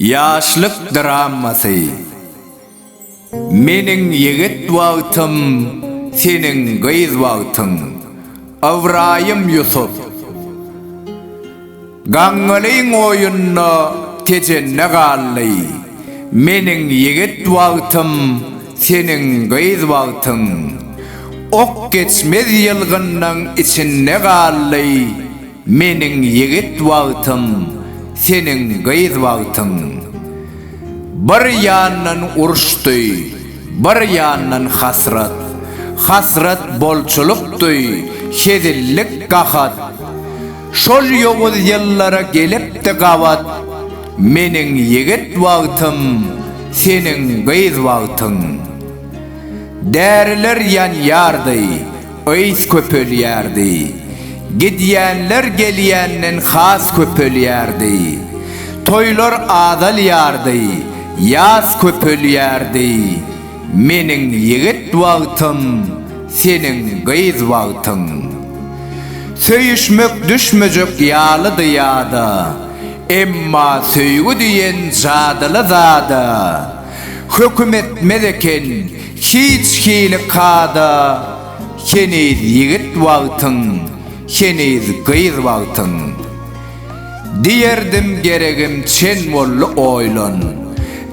Ýaşlyk dramasy Meniň ýigit wagtym, seniň gyz wagtyň. Ybraýym Ýusup. Gaňňalyň oýunda Tejende galdy. Meniň ýigit wagtym, seniň gyz wagtyň. Ok geçmez ýylgynnyň içinde galdy. Meniň ýigit wagtym, seniň gyz wagtyň. Bir ýandan uruşdy, bir ýandan hasrat. Hasrat bolçulykdy, hezillik gahat. Şol ýowuz ýyllara gelipdi gabat, Meniň ýigit wagtym, seniň gyz wagtyň. Däriler ýanýardy, ys köpelýärdi, Gidýänler gelýänden has köpelýärdi. Toýlar azalýardy, ýas köpelýärdi, Meniň ýigit wagtym, seniň gyz wagtyň. Söýüşmek düşmejek ýalydy ýada, Emma söýgi diýen jadyly zada, Höküm etmez eken hiç hili kada, Heniz ýigit wagtyň, heniz gyz wagtyň. Diýerdim geregim çen boldy oýlan,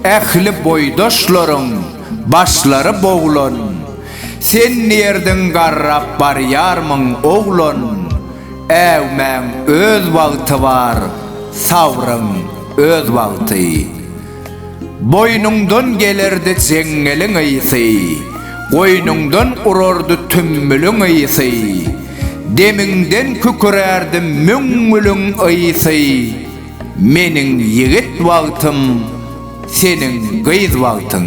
Ähli boýdaşlaryň başlary boglan, Sen diýerdiň garrap barýarmyň oglan, Äwmäň öz wagty bar, sabryň öz wagty. Boýnuňdan gelerdi jeňňeliň ysy, Goýnuňdan urardy tümmüliň ysy, Demiňden kükürärdi müňňüliň ysy, Meniň ýigit wagtym, seniň gyz wagtyň.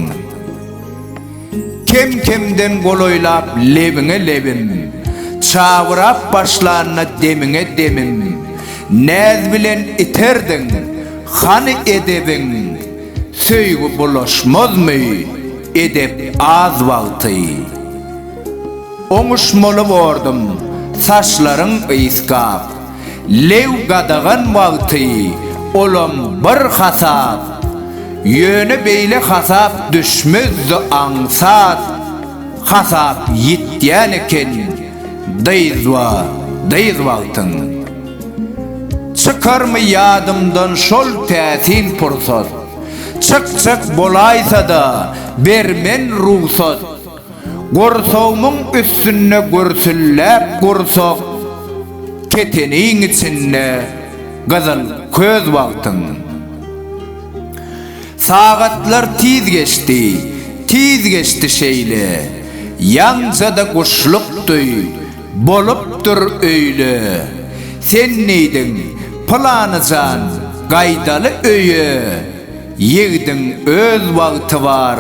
Kem-kemden golaýlap lebiňe lebim, Çabyrap başlanda demiňe demim, Näz bilen iterdiň, hany edebiň, Söýgi bulaşmazmy edep az wagty. Oňuşmaly bordum, saçlaryň yzkap, Lew gadagan wagty olam bir hasap, ýöne beýle hasap düşmezdi aňsat hasap ýitýän eken dyzba dyz wagtyň çykarmy ýadymdan şol täsin pursat çykjak bolaýsada bermen rugsat. Gursagymyň üstünde gürsülläp gursak, Keteniň içinde gyzyl köz wagtyň. Sagatlar tiz geçdi, tiz geçdi şeýle, Ýaňja-da guşluk duý, bolupdyr öýle. Sen diýdiň, Pylany jan, gaýdaly öýe, Ýigdiň öz wagty bar,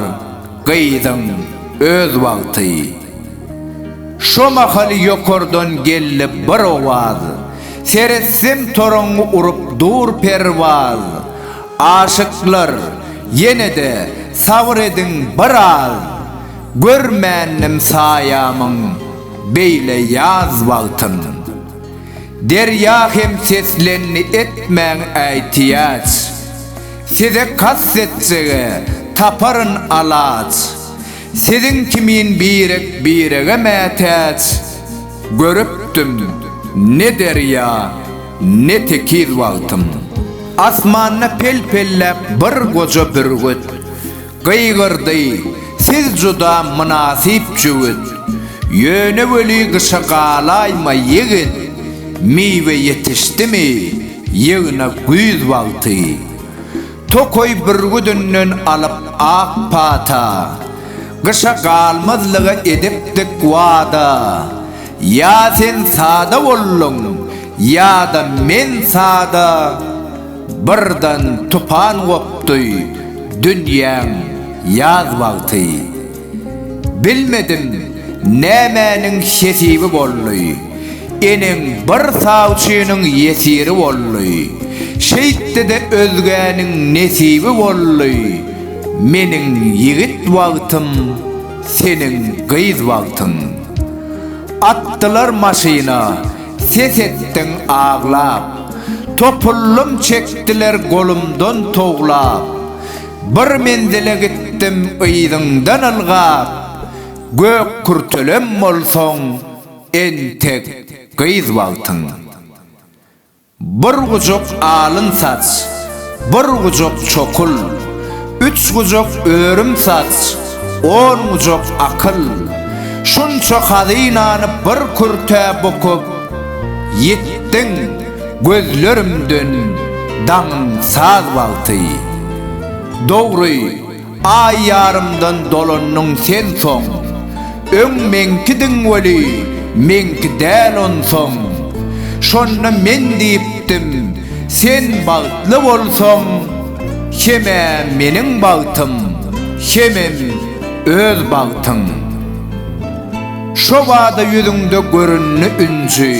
gyzyň öz wagty. Şo mahal ýokardan geldi bir owaz, Seretsem toraňňy urup dur perwaz. Aşyklar, ýene-de sabyr ediň bir az, Görmändim saýamyň beýle ýaz wagtyn. Derýa hem seslendi etmäň äýtiýaç. Size kast etjege taparyn alaç. Siziň kimin birek birege mätäç. Görüpdim ne derýa ne tekiz wagtym. Asmanda pel-pelläp bir goja bürgüt. Gygyrdy, Siz juda mynasyp jübüt. Ýöne weli gyşa galaýma, ýigit. Miwe ýetişdimi, ýygna güýz wagty. Tokaý bürgüdinden alyp ak pata. Gyşa galmazlyga edipdik wada. Ýa sen sada bolduň, ýa-da men sada. Birden tupan gopdy dünýäň ýaz wagty. Bilmedim nämäniň hesibi boldy. Eneň bir sawçynyň ýesiri boldy. Şeýtdi-de özgäniň nesibi boldy. Meniň ýigit wagtym, seniň gyz wagtyň. Atdylar maşyna. Ses etdiň aglap. Topullym çekdiler golumdan towlap. Bir menzile gitdim yzyňdan ylgap. Gök kürtelem bolsaň, entek gyz bagtyň. Bir gujak alyn saç. Bir gujak çokul, üç gujak örüm saç, on gujak akyl, şunça hazynany bir kürtä bukup, ýitdiň, gözlerimden daňyň saz wagty. Dogry, Aý ýarymdan dolandyň sen soň. Öň meňkidiň weli, meňki däl onsoň. Şonda men diýipdim, sen bagtly bolsaň, Hem-ä meniň bagtym, hemem öz bagtyň. Şo bada ýüzüňde göründi ünji.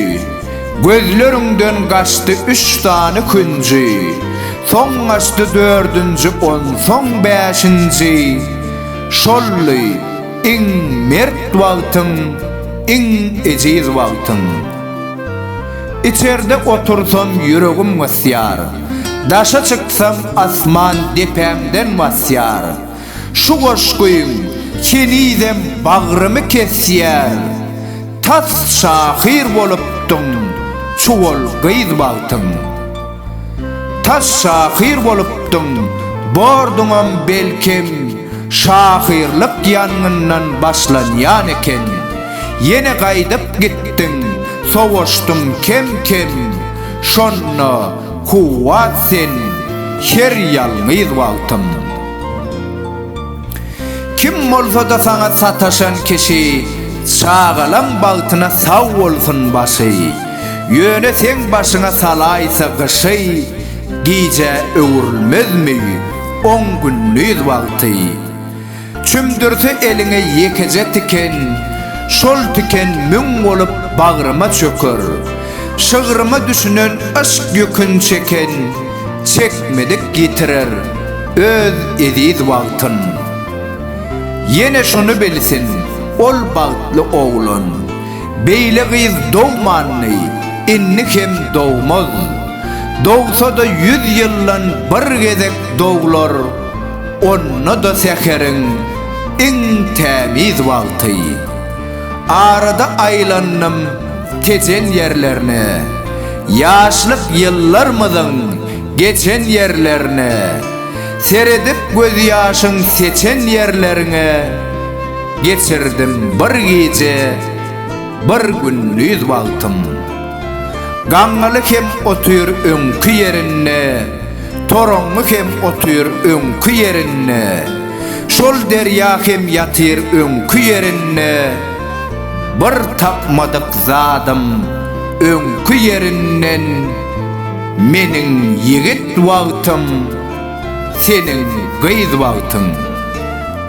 Gözleriňden gaçdy üç sany künji, Soň gaçdy dördünji, onsoň bäşinji. Şoldy iň mert wagtyň, iň ejiz wagtyň. Içerde otursam ýüregim gysýar, Daşa çyksam asman depämden basýar. Şu goşgyň henizem bagrymy kesýär, Tas şahyr bolupdyň çuwal gyz wagtyň. Tas şahyr bolupdyň, borduňam belkem, Şahyrlyk ýangyndan başlanýan eken. Ýene gaýdyp gitdiň, sowaşdyň kem-kem, Şonda kuwwat sen her ýalňyz wagtyň. Kim bolsada saňa sataşan kişi Çagalaň bagtyna sag bolsun başy Ýöne seň başyňa salaýsa gyşy Gijä öwrülmezmi on gündiz wagty Çümdürse eliňe ýekeje tiken Şol tiken müň bolup bagryma çöker Şygryma düşünen yşk ýükün çeken Çekmedik ýitirer öz eziz wagtyn. Ýene şuny bilsin, ol bagtly oglan, Beýle gyz dogmandy, indi hem dogmaz. Dogsa-da ýüz ýyldan bir gezek doglar, Onda-da säheriň iň tämiz wagty. Arada aýlandym Tejen ýerlerine, Ýaşlyk ýyllarmyzyň geçen ýerlerine, Seredip gözýaşyň seçen ýerleriňe, Geçirdim bir gije, bir gündiz wagtym. Gaňňaly hem otyr öňki ýerinde, Toraňňy hem otyr öňki ýerinde, Şol derýa hem ýatyr öňki ýerinde, Bir tapmadyk zadym öňki ýerinden, Meniň ýigit wagtym, seniň gyz wagtyň.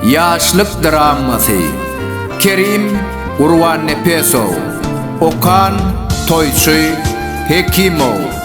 Ýaşlyk dramasy. Kerim Gurbannepesow. Okan Toýçy Hekimow.